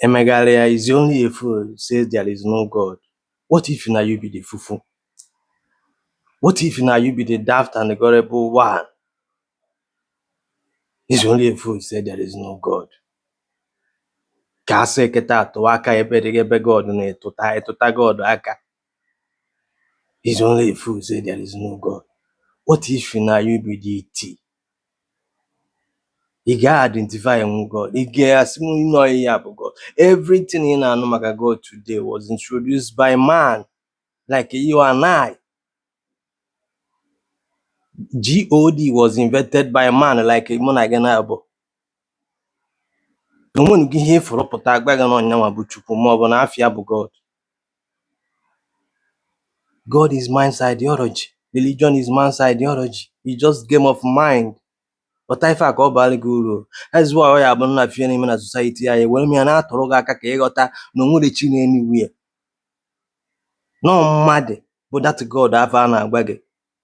Emegharịa is only a fool says there is no God. What if na you be the fufu? What if na you be the daft and the gullible one? Is only a fool says there is no God. Ka a sị kịta atụ aka ebe dị ebe God na-etụta etụta God aka. Is only a fool says there is no God. What if na you be the iti? Ị ga-identify nwu God. Ị ga-asị m na ọ ya bụ God. Everything ị na-anụ maka God today was introduced by man like you and I. God was invented by man like mụ na gị naabọ. na o nwenugo ihe ị fụrụ pụta agwa gị na ọ ya nwa bụ Chukwu ma ọ bụ na afa ya bụ God God is man's ideology religion is man's ideology it's just game of mind ghọta ife a ka ọ baara gị uru that's why ọ ya bụ na ife na-eme na society anyị were m ya na-atụrụ gị aka ka ị ghọta na o nwerọ chi nọ anywhere na ọ mmadụ bụ that God afụ a na-agwa gị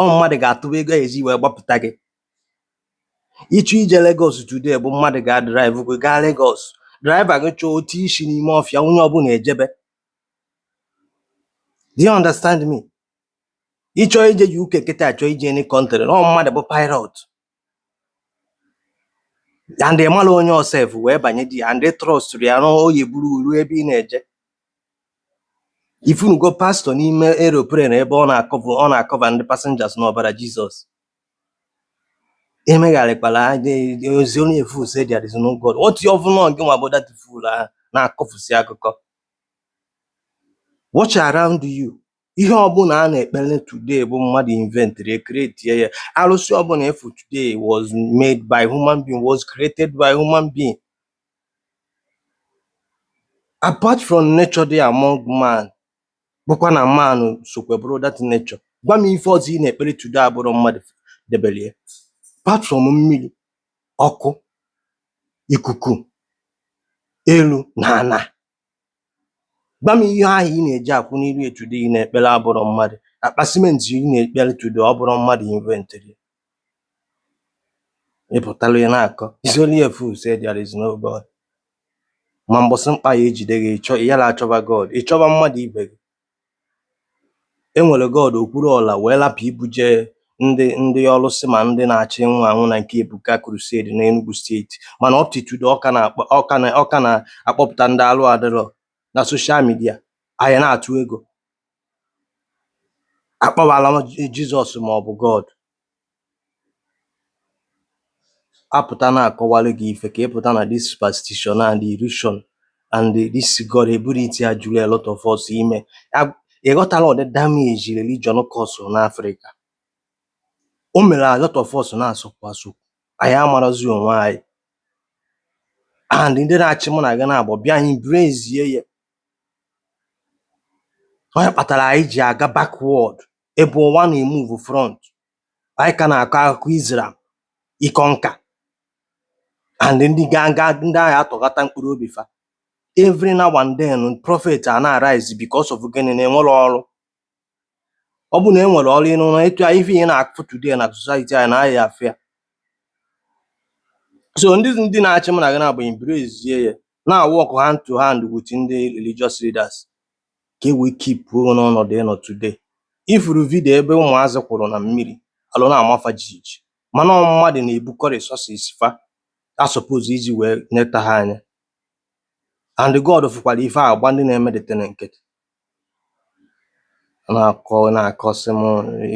ọ mmadụ ga-atụba ego eji wee gbapụta gị ị chọọ ije Lagos today bụ mmadụ ga-adrive gị gaa Lagos driver gị chọọ o tii isi n'ime ọfịa onye ọbụla ejebe do you understand me ị chọọ ije UK kịta ị chọọ ije any country ọ mmadụ bụ pilot and ị marọ onye ọ sef wee banye there and ị trustụrụ ya na ọ ya-eburu gị ruo ebe ị na-eje ị fụnugo pastor n'ime aeroplane ebe ọ na-acover ọ na-acover ndị passengers n'ọbara Jesus emegharịkwala ọ sị only a fool say there is no God what if ọ bụ na ọ gị nwa bụ that fool ahụ na-akọfusi akụkọ watch around you Ihe ọbụla a na-ekpele today bụ mmadụ inventịrị ya create ya arụsị ọbụla ị fụ today was made by human being was created by human being apart from nature dị among man bụkwa na man sokwa bụrụ that nature gwa m ife ọzọ ị na-ekpele today abụrọ mmadụ debele ya apart from mmiri ọkụ ikuku elu na ana Gwa m ihe ahụ ị na-eje akwụ n'iru ya today ị na-ekpere abụrọ mmadụ. Akpa cement ị na-ekpere today ọ bụrọ mmadụ inventịrị ya. Ị pụtara ị na-akọ it's only a fool say there is no God. Ma mbọsị mkpa ya-ejide gị, ị chọ- ị yara achọba God, ị chọba mmadụ ibe gị. E nwere God Okwuluọra wee rapụ ibuje ndị ndị ọlụsị ma ndị na-achọ ịnwụ anwụ na nke Ebuka Crusade n'Enugu State mana up to today ọ ka na-akpọ ọ ka na ọ ka na-akpọpụta ndị alụ adịrọ na social media anyị na-atụ ego akpọwala Jesus ma ọ bụ God A pụta na-akọwalụ gị ife ka ị pụta na this superstition and illusion and this gullibility a juru a lot of us ime ị ghọtala ụdị damage religion causụrụ na Afrịka o mere a lot of us na-asụkwu asụkwu anyị amarazi onwe anyị and ndị na-achị mụ na gị na-abụ bịa embracie ya onye kpatara anyị ji aga backward Ebe ụwa na-emove front anyị ka na-akọ akụkọ Israel ịkọ nka and ndị gaa gaa ndị agha atọghata mkpụrụ obi fa every now and then prophet a na-arise because of gịnị na enwerọ ọrụ ọ bụ na enwere ọrụ ịnụ na etu ife ị na-afụ today na society anyị na ahịa afịa so ndị ndị na-achị m na gị na-abụ embrace ya na-awork hand to hand with ndị religious leaders ka e wee keep o n'ọnọdụ ị nọ today. Ị fụrụ video ebe ụmụazị kwụrụ na mmiri, alụ na-ama fa jijiji, mana ọ mmadụ na-ebukọ resources fa a suppose iji wee neta ha anya. And God fụkwara ife a gba ndị na-eme the thing nkịtị. Ọ na-akọ ọ na-akọsị m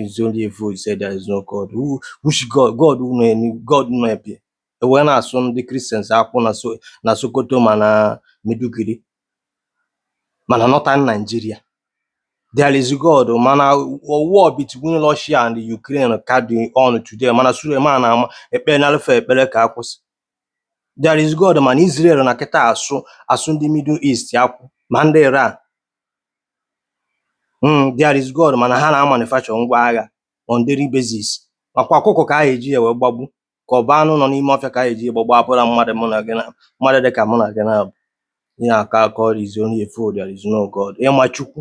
is only a fool say there is no God. Who, which God? God nọ enu, God nọ ebe e wee na-asụ ndị Christians akwụ na So- na Sokoto ma na Maiduguri Ma na northern Nigeria, there is God mana war between Russia and Ukraine ka dị on today mana Suleman ama ekpere na Alfa ekpere ka a kwụsị. There is God mana Israel nọ kịta asụ asụ ndị Middle East akwụ ma ndị Iran. Mm, there is God mana ha na-amanufacture ngwa agha on daily basis. Makwa ọkụkọ ka a ga-eji ya wee gbagbu ka ọ bụ anụ nọ n'ime ọfịa ka a ga-eji gbagbu abụrọ mmadụ mụ na gị na-abụ mmadụ dị ka mụ na gị na-abụ ị na-akọ akọrọ is only a fool there is no God ị ma Chukwu